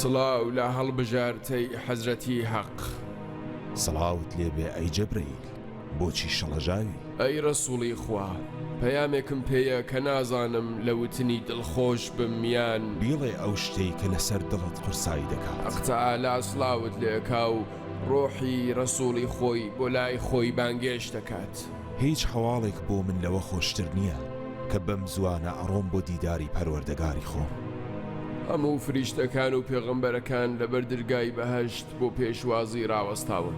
سڵاو لە هەڵبژارتەی حەزرەتی هەق. سڵاوت لێبێ ئەی جەبرەیل. بۆچی شڵەژاوی؟ ئەی ڕەسوڵی خوا پەیامێکم پێیە کە نازانم لە وتنی دڵخۆش بم یان. بیڵێ ئەو شتەی کە لەسەر دڵت قورسایی دەکات. حەق تەعالا سڵاوت لێکا و ڕۆحی ڕەسوڵی خۆی بۆ لای خۆی بانگێشت دەکات. هیچ هەواڵێک بۆ من لەوە خۆشتر نییە کە بەم زووانە ئەڕۆم بۆ دیداری پەروەردەگاری خۆم. هەموو فریشتەکان و پێغەمبەرەکان لەبەر درگای بەهەشت بۆ پێشوازی ڕاوەستاون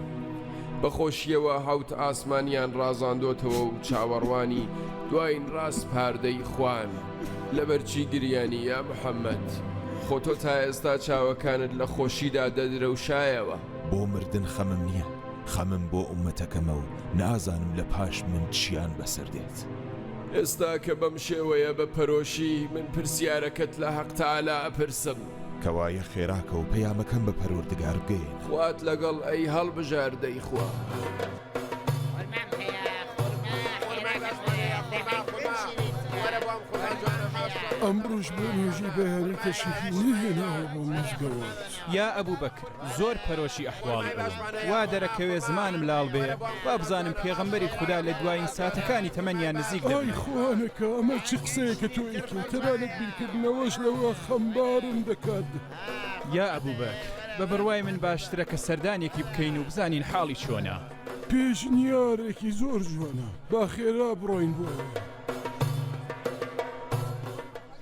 بە خۆشیەوە حەوت ئاسمانیان ڕازاندۆتەوە و چاوەڕوانی دواین ڕاس پاردەی خوان. لەبەرچی گریانی یا محمد؟ خۆ تۆ تا ئێستا چاوەکانت لە خۆشیدا دەدرەوشایەوە. بۆ مردن خەمم نیە، خەمم بۆ ئومەتەکەمە و نازانم لە پاش من چیان بەسەر دێت. ئێستا کە بەم شێوەیە بە پەرۆشی من پرسیارەکەت لە حەق تەعالا ئەپرسم، کەوایە خێرا کەو پەیامەکەم بە پەروەردگار بگەیەنە. خوات لەگەڵ ئەی هەڵبژار دەی خوا. ئەمڕۆش بۆ نوێژی بەیانی تەشریفی نەهێناوە بۆ مزگەوت. یا ئەبوبەکر زۆر پەرۆشی ئەحواڵی ئەوم وا دەرەکەوێ زمانم لاڵ بێ با بزانم پێغەمبەری خودا لە دوایین ساتەکانی تەمەنیان نزیک دەبێ. ئای خوانەکا ئەمە چ قسەیەکە تۆ ئەیکەی تەنانەت بیرکردنەوەش لەوە خەمبارم دەکات. یا ئەبو بەکر بە بڕوای من باشترە کە سەردانێکی بکەین و بزانین حاڵی چۆنە. پێشنیارێکی زۆر جوانە با خێرا بڕۆین بۆ ئەوێ.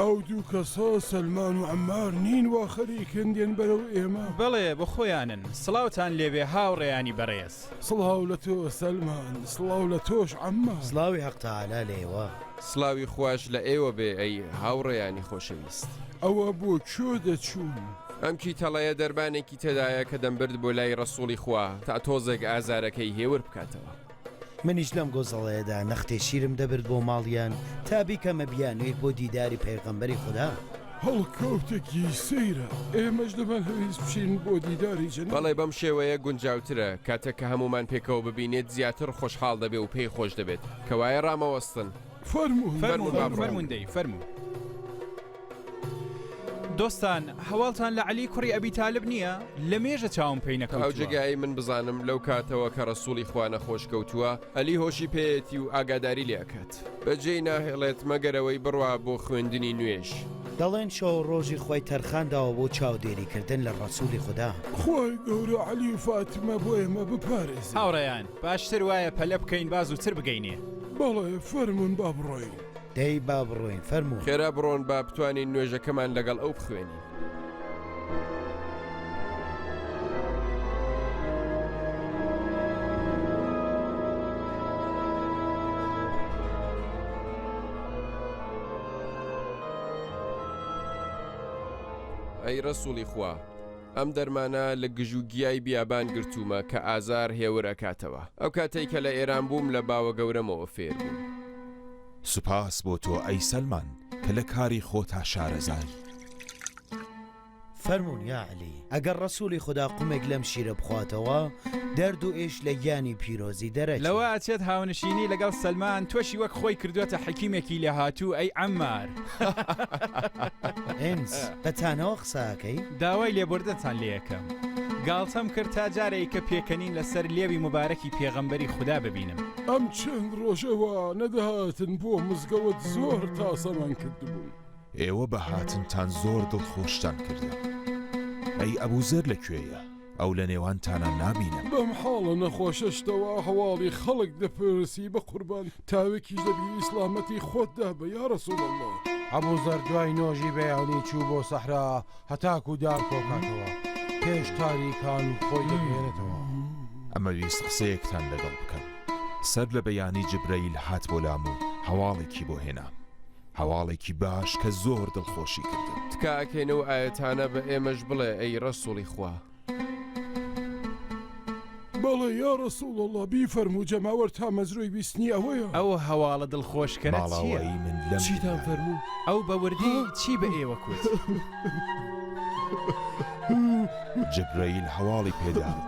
ئەو دوو کەسە سەلمان و عەمار نین وا خەریکن دێن بەرەو ئێمە. بەڵێ بۆ خۆیانن. سڵاوتان لێبێ هاوڕێیانی بەڕێز. سڵاو لە تۆ سەلمان سڵاو لە تۆش عەمار. سڵاوی حەق تەعالا لە ئێوە. سڵاوی خواش لە ئێوە بێ ئەی هاوڕێیانی خۆشەویست. ئەوە بۆ کوێ دەچوون؟ ئەم کیتەڵەیە دەرمانێکی تێدایە کە دەمبرد بۆ لای ڕەسوڵی خوا تا تۆزێک ئازارەکەی هێور بکاتەوە. منیش لەم گۆزەڵەیەدا نەختێ شیرم دەبرد بۆ ماڵیان تا بیکەمە بیانوویەک بۆ دیداری پەیغەمبەری خودا. هەڵکەوتێکی سەیرە ئێمەش دەمانهەویست بچین بۆ دیداری جەنابی. بەڵێ بەم شێوەیە گونجاوترە، کاتێک کە هەموومان پێکەوە ببینێت زیاتر خۆشحاڵ دەبێ و پێی خۆش دەبێت. کەوایە ڕامەوەستن. فەرموون فەرموون با بڕۆین. فەرموون دەی فەرموون. دۆستان هەواڵتان لە عەلی کوڕی ئەبی تالب نییە لە مێژە چاوم پێی تا ئەو نەکەوتووە جێگایەی من بزانم لەو کاتەوە کە ڕەسووڵی خوا نەخۆش کەوتووە ئەلی هۆشی پێیەتی و ئاگاداری لێ ئەکات بەجێی ناهێڵێت مەگەر ئەوەی بڕوا بۆ خوێندنی نوێژ. دەڵێن شەو و ڕۆژی خۆی تەرخان داوە بۆ چاودێری کردن لە ڕەسووڵی خودا. خوای گەورە عەلی و فاتمە بۆ ئێمە بپارێزێ. هاوڕێیان باشتر وایە پەلە بکەین با زووتر بگەینێ. بەڵێ فەرموون با بڕۆین. دەی با بڕۆین فەرموو. خێرا بڕۆن با بتوانین نوێژەکەمان لەگەڵ ئەو بخوێنین. ئەی ڕەسووڵی خوا، ئەم دەرمانە لە گژ و گیای بیابان گرتوومە کە ئازار هێور ئەکاتەوە. ئەو کاتەی کە لە ئێران بووم لە باوەگەورەمەوە فێر بووم. سوپاس بۆ تۆ ئەی سەلمان کە لە کاری خۆتا شارەزای. فەرموون یا علی ئەگەر ڕەسووڵی خودا قومێک لەم شیرە بخواتەوە دەرد و ئێش لە گیانی پیرۆزی دەرەچێت. لەوە ئەچێت هاونشینی لەگەڵ سەلمان تۆشی وەک خۆی کردووەتە حەکیمێکی لێهاتوو ئەی عەمار. هێنز بە تانەوە قساکەی؟ داوای لێبوردنتان لێیەکەم گاڵتەم کرد تا جارێک کە پێکەنین لەسەر لێوی مبارەکی پێغەمبەری خودا ببینم. ئەم چەند ڕۆژە وا نەدەهاتن بۆ مزگەوت زۆر تاسەمان کردبوون. ئێوە بە هاتنتان زۆر دڵخۆشتان کردم. ئەی ئەبوزەر لە کوێیە؟ ئەو لە نێوانتانا نابینم. بەم حاڵە نەخۆشە شتەوە هەواڵی خەڵک دەپرسی بەقوربان تاوێکیش دەبی سڵامەتی خۆت دابە یا رسول اللە. ئەبوزەر دوای نۆژی بەیانی چوو بۆ سەحرا هەتاکو دار کۆکاتەوە پێش تاریکان خۆی دەگەێنێتەوە. ئەمەویست قسەیەکتان لەگەڵ بکەم سەر لە بەیانی جبرەیل هات بۆ لام و هەواڵێکی بۆ هێنا. هەواڵێکی باش کە زۆر دڵخۆشی کردم. تکا ئەکەین ئەو ئایەتانە بە ئێمەش بڵێ ئەی ڕەسوڵی خوا. بەڵێ یا رسول اللە بیفەرموو جەماوەر تامەزرۆی ویستنی ئەوەیە. ئەو هەواڵە دڵخۆشکەرە چیە؟ ماڵاوایی من لەم چیتان فەرموو؟ دنیایە. ئەو بە وردی چی بە ئێوە کوت؟ جبرەیل هەواڵی پێدام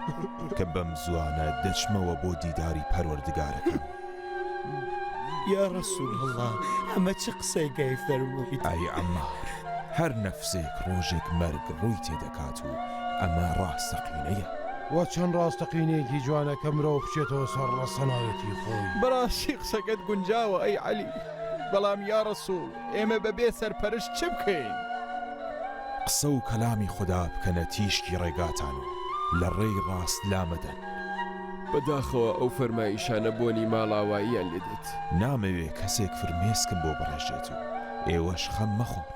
کە بەم زوانە دەچمەوە بۆ دیداری پەروەردگارەکەم. یا ڕسول هەڵا ئەمە چ قسەی گەی فەرمووی ئای ئەمە هەر نەفسێک ڕۆژێک مەرگ ڕووی تێدەکات و ئەمە ڕاستەقینەیە وە چەند ڕاستەقینەیەکی جوانە کە مرۆڤ بچێتەوە سەر ڕەسەنایەتی خۆی بەڕاستی قسەکەت گونجاوە ئەی عەلی بەڵام یا ڕسول ئێمە بەبێ سەرپەرشت چ بکەین؟ قسە و کەلامی خودا بکەنە تیشکی ڕێگاتان و لە ڕێی ڕاست لامەدەن. بەداخەوە ئەو فەرمایشانە بۆنی ماڵاواییان لێ دێت. نامەوێ کەسێک فرمێسکم بۆ بڕێژێت و ئێوەش خەم مەخۆن.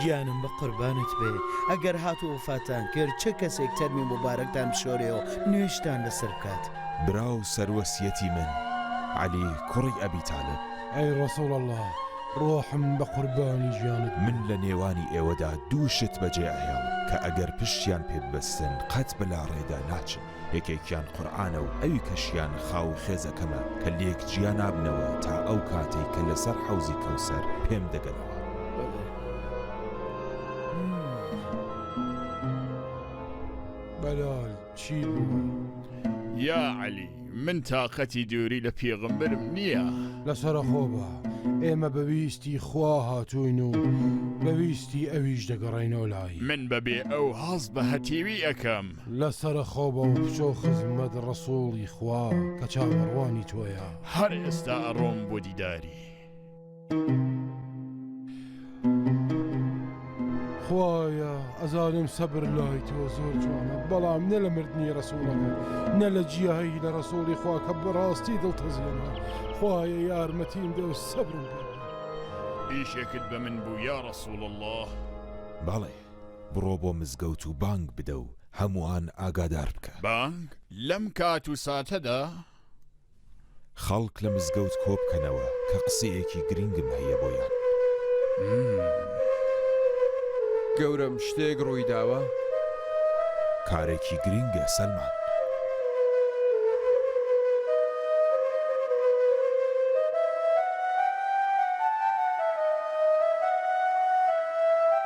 گیانم بە قوربانت بێ ئەگەر هات و وەفاتان کرد چ کەسێک تەرمی موبارەکتان بشۆرێ و نوێژتان لەسەر بکات. برا و سەروەسیەتی من عەلی کوڕی ئەبی تالب. ئەی ڕەسوڵ اللە ڕۆحم بە قوربانی گیانت بێ. من لە نێوانی ئێوەدا دوو شت بەجێ ئەهێڵم کە ئەگەر پشتیان پێ ببەستن قەت بە لاڕێدا ناچن. یەکێکیان قورئانە و ئەوی کەشیان خاو و خێزەکەمە کە لێک جیا نابنەوە تا ئەو کاتەی کە لەسەر حەوزی کەوسەر پێم دەگەنەوە. بەلال چی بوو؟ یا عەلی من تاقەتی دووری لە پێغمبرم نییە. لەسەرەخۆ بە ئێمە بەویستی خوا هاتوین و بەویستی ئەویش دەگەڕینەوە لای. من بەبێ ئەو هەست بە هەتیوی ئەکەم. لە سەرە خۆ بە و بچۆ خزمەت ڕەسوڵی خوا کە چاوەڕوانی تۆیە. هەر ئێستا ئەڕۆم بۆ دیداری. خوایە ئەزانم سەبر لای تۆ زۆر جوانە بەڵام نە لە مردنی ڕسووڵەکە نە لە جیایی لە ڕسووڵی خوا کە بەڕاستی دڵتەزیێنە خوایە یارمەتیم دە و سەبرم پێ ئیشێکت بە من بوو یا ڕسوول الله بەڵێ بڕۆ بۆ مزگەوت و بانگ بدە و هەمووان ئاگادار بکە. بانگ لەم کات و ساتەدا. خەڵک لە مزگەوت کۆ بکەنەوە کە قسەیەکی گرنگم هەیە بۆیان. گەورەم، شتێک ڕووی داوە؟ کارێکی گرنگە سەلمان.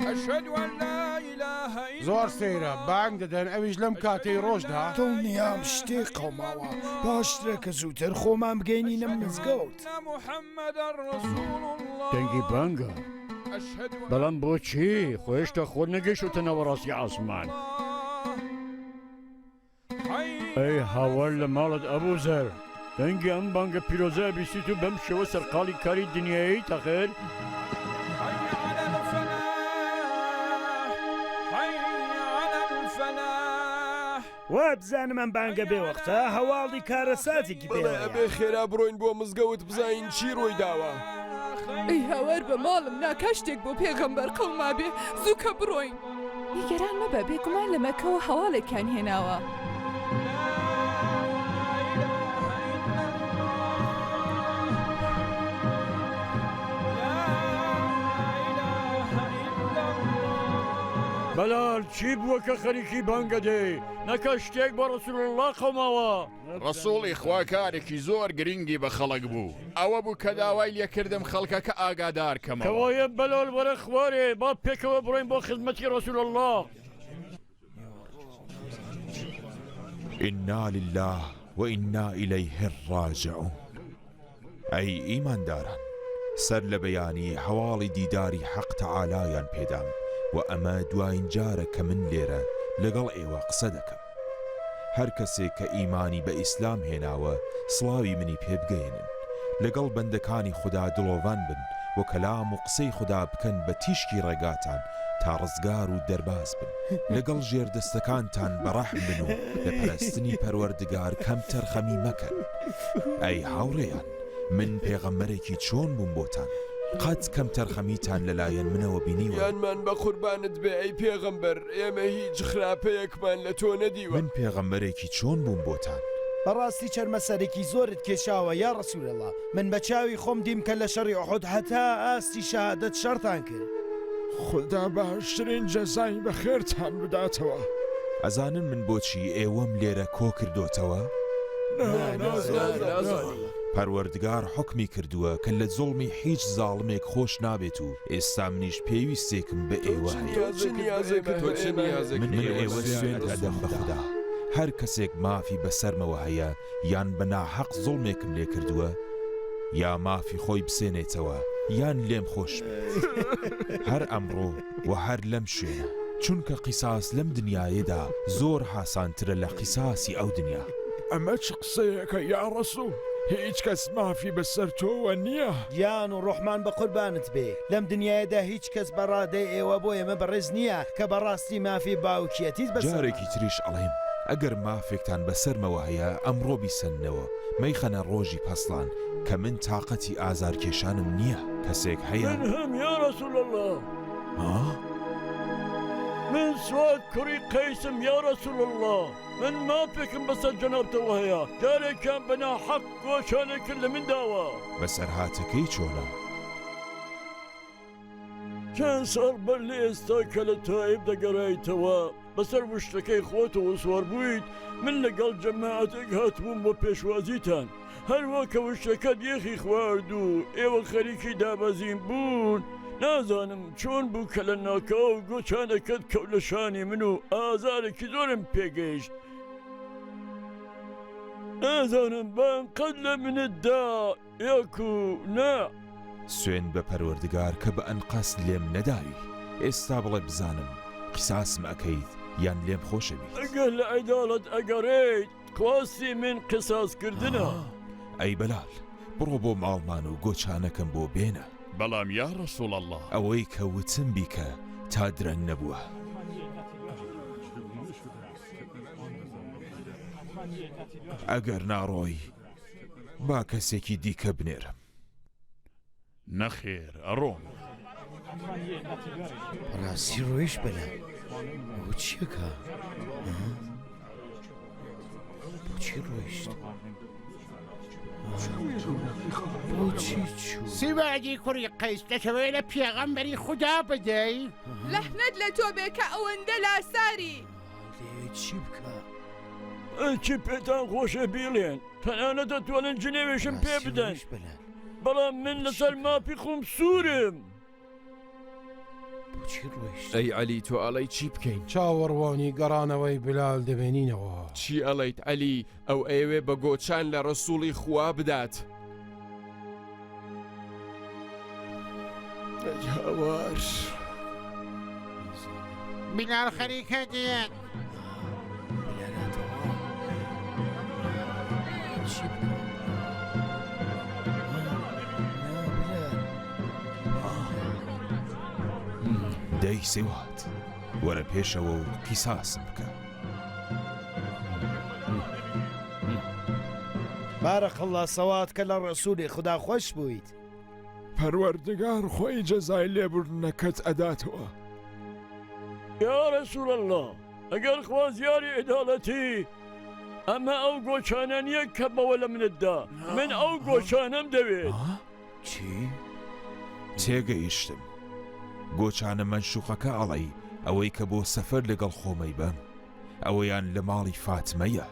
اشهد ان لا اله الا الله زۆر سەیرە بانگ دەدەن ئەویش لەم کاتەی ڕۆژدا. دڵنیام شتێ قەوماوە باشترە کە زووتر خۆمان بگەینینە مزگەوت. دەنگی بانگە بەڵام بۆچی خۆ هێشتا خۆ نەگەیشتوتە ناوەڕاستی عاسمان. ئەی هاوار لە ماڵت ئەبوزەر دەنگی ئەم بانگە پیرۆزە ئەبیسیت و بەم شێوە سەرقاڵی کاری دنیایت ئەخر؟ وابزانم ئەم بانگە بێ وەختە هەواڵی کارەساتێکی پێ بەڵێ ئەبێ خێرا بڕۆین بۆ مزگەوت بزانین چی ڕووی داوە. ئەی هاوار بە ماڵم نا کا شتێک بۆ پێغەمبەر قەومابێ زوو کە بڕۆین. نیگەران مەبە بێگومان لە مەکەوە هەواڵێکیان هێناوە. بەلال چی بووە کە خەریکی بانگە دێی نەکە شتێک بە ڕەسول اللە قەوماوە. ڕەسووڵی خوا کارێکی زۆر گرینگی بە خەڵک بوو، ئەوە بوو کە داوای لێ کردم خەڵکەکە ئاگادار کەمەوە. کەوایە بەلال وەرە خوارێ با پێکەوە بڕۆین بۆ خزمەتی ڕەسوول اللە. انا للە و انا الیه الراجعون. ئەی ئیمانداران سەر لە بەیانی هەواڵی دیداری حەق تەعالایان پێدام و ئەمە دواین جارە کە من لێرە لەگەڵ ئێوە قسە دەکەم هەر کەسێک کە ئیمانی بە ئیسلام هێناوە سڵاوی منی پێ بگەیەنن لەگەڵ بەندەکانی خودا دڵۆڤان بن و کەلام و قسەی خودا بکەن بە تیشکی ڕێگاتان تا ڕزگار و دەرباز بن لەگەڵ ژێردەستەکانتان بەڕەحم بن و لە پەرستنی پەروەردگار کەمتەرخەمی مەکەن. ئەی هاوڕێیان من پێغەمبەرێکی چۆن بووم بۆتان قەت کەمتەرخەمیتان لەلایەن منەوە بینیوە؟ گیانمان بەقوربانت بێ ئەی پێغەمبەر ئێمە هیچ خراپەیەکمان لە تۆ نەدیوە. من پێغەمبەرێکی چۆن بووم بۆتان؟ بەڕاستی چەرمەسەرێکی زۆرت کێشاوە یا رسول اللە من بەچاوی خۆم دیم کە لەشەڕی احد هەتا ئاستی شەهادەت شەڕتان کرد، بێ. خودا باشترین جەزای بەخێرتان بداتەوە. ئەزانن من بۆچی ئێوەم لێرە کۆکردۆتەوە؟ نا نازانین. پەروەردگار حوکمی کردووە کە لە زوڵمی هیچ زاڵمێک خۆش نابێت و ئێستا منیش پێویستێکم بە ئێوە هەیە. تۆ چ نیازێکت هەیە؟ من ئێوە سوێند ئەدەم بە خودا هەر کەسێک مافی بەسەرمەوە هەیە یان بە ناحەق زوڵمێکم لێ کردووە یا مافی خۆی بسێنێتەوە یان لێم خۆش بێت هەر ئەمڕۆ و هەر لەم شوێنە چونکە قیساس لەم دنیایەدا زۆر هاسانترە لە قیساسی ئەو دنیا. ئەمە چ قسەیەکە یا ڕەسوڵ هیچ کەس مافی بەسەر تۆوە نییە. گیان و ڕۆحمان بە قوربانت بێ لەم دنیایەدا هیچ کەس بە ڕادەی ئێوە بۆ ئێمە بەڕێز نییە کە بەڕاستی مافی باوکیەتیت بەسەرمانە. ئیتریش ئەڵێم ئەگەر مافێکتان بەسەرمەوە هەیە ئەمڕۆ بیسەننەوە مەیخەنە ڕۆژی پەسڵان کە من تاقەتی ئازار کێشانم نیە کەسێک هەیە؟ من هم یا رسول اللە. ها؟ من سواد کوڕی قەیسم یا رسول اللە من مافێکم بەسەر جەنابتەوە هەیە جارێکیان بە ناحەق گۆشانێکت لە من داوە. بەسەرهاتەکەی چۆنە؟ چەند ساڵ بەر لە ئێستا کە لە تائیف دەگەرایتەوە بەسەر وشکەکەی خۆتەوە سوار بوویت من لەگەڵ جەماعەتێک هاتبووم بۆ پێشوازیتان هەروا کە وشکەکەت یەخی خوارد و ئێوە خەریکی دابەزین بوون نازانم چۆن بوو کە لە ناکاو گۆچانەکەت کەوت لە شانی من و ئازارێکی زۆرم پێگەیشت نازانم بەم قەد لە منتدا یک و نە. سوێند بە پەروەردگار کە بە ئەنقەست لێم نەداوی ئێستا بڵێ بزانم قیساسم ئەکەیت یان لێم خۆشەویت. ئەگەر لە عەدالەت ئەگەڕێیت خواستی من قیساس کردنە. ئەی بەلال بڕۆ بۆ ماڵمان و گۆچانەکەم بۆ بێنە. بەڵام یا رسول اللە. ئەوەی کە وتم بیکە تا درەنگ نەبووە. ئەگەر ناڕۆی. با کەسێکی دیکە بنێرم. نەخێر ئەڕۆم. ڕاستی ڕۆیش بەلا چیەکە؟ بۆچی ڕۆیشت؟ سیواجی کوڕی قەیس دەکەوێت لە پێغەمبەری خوددا بدەی؟ لەحمد لە تۆ بێ کە ئەوەندە لاساری. چی بکە؟ ئەچی پێتان خۆشە بیڵێن تەنانە دەتوانن جنێوێشم پێ بدەن بلە بەڵام من لەسەر مافی خۆم سوورم ئەی علی تۆ ئەڵی چی بکەین چاوەڕوانی گەڕانەوەی بلال دەبێنینەوە چی ئەڵیت علی ئەو ئەیەوێ بە گۆچان لە ڕسووڵی خوا بدات. هاوار بلال خەریکە دێت. دەی سیوات وەرە پێشەوە و قیساسم بکە. بارک اللە صلواتک علی الرسول خودا خۆش بوویت. پەروەردگار خۆی جەزای لێبوردنەکەت ئەداتەوە. یا رسول اللە ئەگەر خوازیاری عدالەتی ئەمە ئەو گۆچانە نیە کە بەوە لە منت دا من ئەو گۆچانەم دەوێت. چی؟ تێگەیشتم گۆچانە مەنشوقەکە ئەڵەی ئەوەی کە بۆ سەفەر لەگەڵ خۆمەی بەم ئەوەیان لە ماڵی فاتمەیە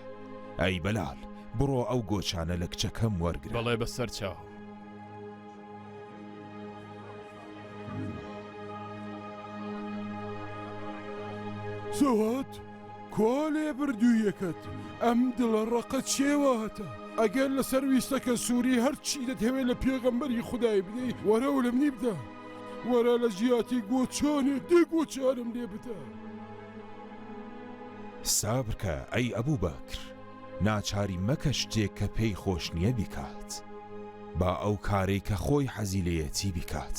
ئەی بەلال بڕۆ ئەو گۆچانە لە کچەکەم وەرگرە بەڵێ بە سەر چاو. سوات؟ کوا لێبردوویەکەت ئەم دڵە ڕەقە چێواتە ئەگەر لەسەر ویستەکە سووری هەرچی دەتهەوێ لە پێغەمبەری خودای بدەی وەرە و لە منی بدە وەرە لە جیاتی گۆچانێ دێ گۆچارم لێ بدە. سابرکە ئەی ئەبوو بەکر ناچاری مەکە شتێک کە پێی خۆش نییە بیکات با ئەو کارەی کە خۆی حەزی لێیەتی بیکات.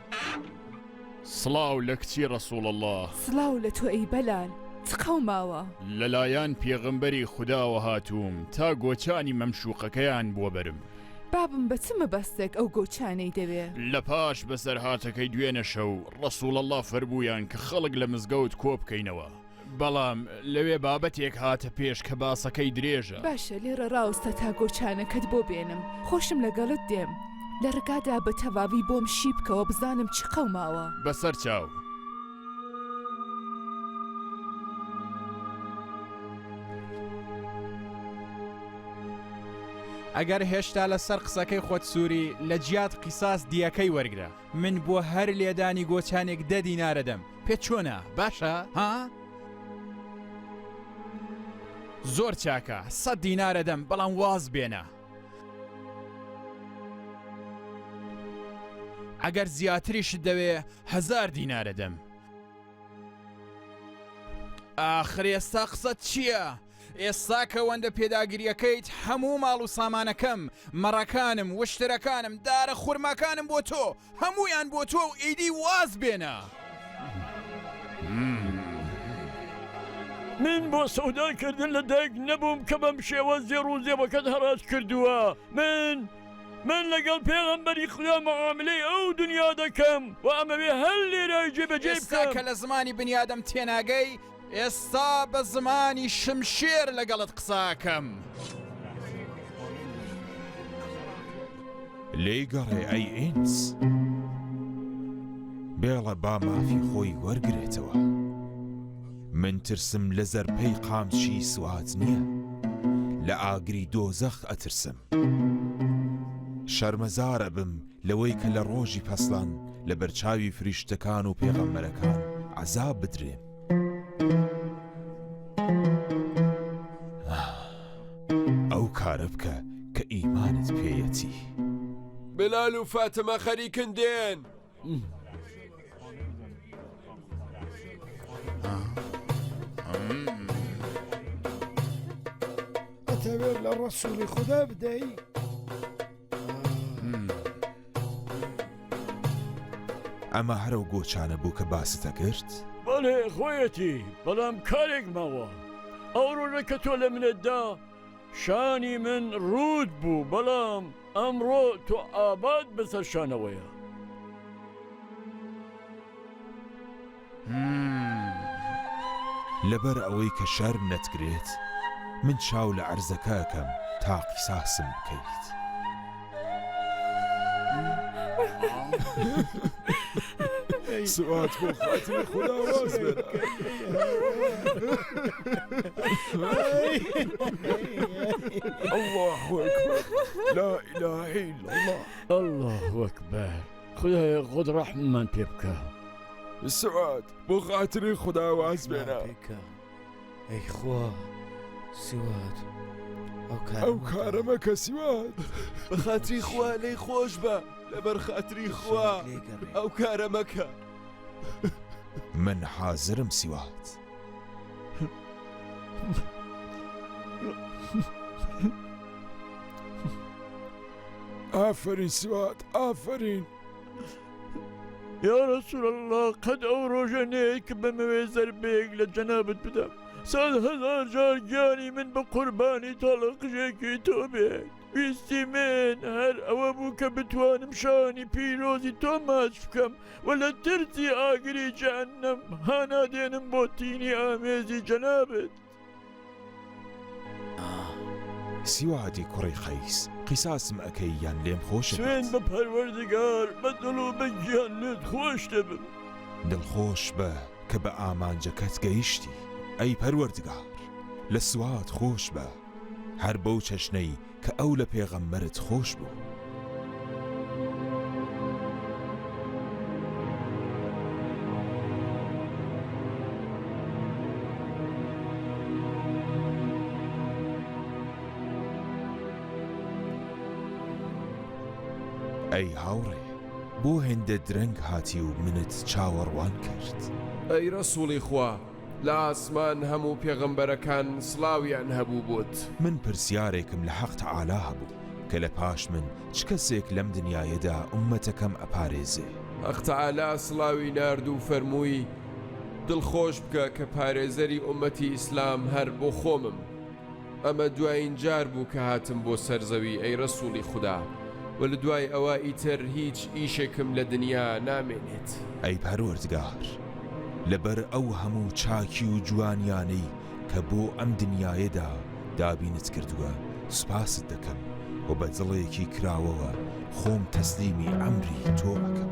سڵاو لە کچی ڕەسوڵ اللە. سڵاو لە تۆ ئەی بەلال چ قەوماوە. لەلایان پێغەمبەری خوداوە هاتووم تا گۆچانی مەمشوقەکەیان بۆ بەرم. بابم بە چ مەبەستێک ئەو گۆچانەی دەوێ؟ لە پاش بەسەرهاتەکەی دوێنە شەو، ڕەسوڵ اللە فەرموویان کە خەڵک لە مزگەوت کۆ بکەینەوە. بەڵام لەوێ بابەتێک هاتە پێش کە باسەکەی درێژە. باشە لێڕە ڕاوستە تا گۆچانەکەت بۆ بێنم، خۆشم لەگەڵت دێم. لە ڕکادا بە تەواوی بۆم شی بکەوە بزانم چی قەوماوە. بەسەر چاو. ئەگەر هێشتا لەسەر قسەکەی خۆت سووری، لە جیات قیساس دیەکەی وەرگرە. من بۆ هەر لێدانی گۆچانێک دە دینارەدەم، پێت چۆنە؟ باشە؟ ها؟ زۆر چاکە، سەد دینارەدەم، بەڵام واز بێنە. ئەگەر زیاتریشت دەوێ هزار دینارەدەم. ئاخر ئێستا قسەت چییە؟ ئێستا کە وەندە پێداگریەکەیت هەموو ماڵ و سامانەکەم مەڕەکانم وشترەکانم دارە خورماکانم بۆ تۆ هەمویان بۆ تۆ و ئیدی واز بێنە. من بۆ سەودای کردن لە دایک نەبووم کە بەم شێوە زێڕ و زێوەکەت هەڕاج کردووە من من لەگەڵ پێغەمبەری خدا مەعاملەی ئەو دنیا دەکەم و ئەمەوێ هەر لێرای جێبەجێ بکەم کە لە زمانی بنیادەم تێناگەی ئێستا بە زمانی شمشێر لەگەڵت قساکەم. لێی گەڕێ ئەی ئینس. بێڵە با مافی خۆی وەرگێتەوە. من ترسم لە زەرپەی قامچی سوات نییە. لە ئاگری دۆزەخ ئەترسم. شەرمەزارە بم لەوەی کە لە ڕۆژی پەسلان لە بەرچاوی فریشتەکان و پێغەمبەرەکان عەزاب بدرێ. ئەو کارە بکە کە ئیمانت پێیەتی. بلال و فاتمە خەریکن دێن. ئەتەوێت لە ڕەسووڵی خوددا بدەی؟ ئەمە هەرە و گۆچانە بوو کە باستە کرد؟ بەڵێ خۆیەتی بەڵام کارێک ماوە ئەو ڕۆژە کە تۆ لە منەتدا شانی من ڕوود بوو بەڵام ئەمڕۆ تۆ ئاباد بەسەر شانەوەیە. لەبەر ئەوەی کە شەرم نەتگرێت من چاو لە عەرزەکە ئەکەم تا قیساسم بکەیت. سوات بۆ خاتری خدا واز بێت. الله أكبر لا إله إلا الله الله أكبر خدای خۆت ڕەحممان پێ بکە. سوات بۆ خاتری خدا واز بێنە ئەی خوا سوات ئەو کارەمە کە سوات بە خاتری خوا لەی خۆش بە لەبەر خاتری خوا ئەو کارەمەکە من حازرم سوات. ئافرین سوات ئافرین. یا رسول الله قەد ئەو ڕۆژە نەیە کە بەمەوێ زەربەیەک لە جەنابت بدەم سەد هەزار جار گیانی من بە قوربانی تاڵە قژێکی تۆ بێت ویستی من هەر ئەوە بوو کە بتوانم شانی پیرۆزی تۆ ماچ بکەم و لە ترسی ئاگری جەهەنەم هانادێنم بۆ تینی ئامێزی جەنابێت سیوادی کوڕی قەیس قیساسم ئەکەی یان لێم خۆش سوێن بە پەروەردگار بە دڵ و بە گیان لێت خۆش دەبم دڵخۆش بە کە بە ئامانجەکەت گەیشتی ئەی پەروەردگار لە سوات خۆش بە هەر بەو چەشنەی کە ئەو لە پێغەمبەرت خۆش بوو. ئەی هاوڕێ بۆ هێندە درەنگ هاتی و منت چاوەڕوان کرد؟ ئەی ڕەسووڵی خوا لە ئاسمان هەموو پێغەمبەرەکان سڵاویان هەبوو بۆت. من پرسیارێکم لە حەق تەعالا هەبوو کە لە پاش من چ کەسێک لەم دنیایەدا ئوممەتەکەم ئەپارێزێ؟ حەق تەعالا سڵاوی نارد و فەرمووی، دڵخۆش بکە کە پارێزەری ئوممەتی ئیسلام هەر بۆ خۆمم. ئەمە دوایین جار بوو کە هاتم بۆ سەر زەوی ئەی رەسوڵی خودا وە لە دوای ئەوە ئیتر هیچ ئیشێکم لە دنیا نامێنێت. ئەی پەروەردگار لەبەر ئەو هەموو چاکی و جوانیانەی کە بۆ ئەم دنیایەدا دابینت کردووە سوپاست دەکەم و بە دڵێکی کراوەوە خۆم تەسلیمی ئەمری تۆ ئەکەم.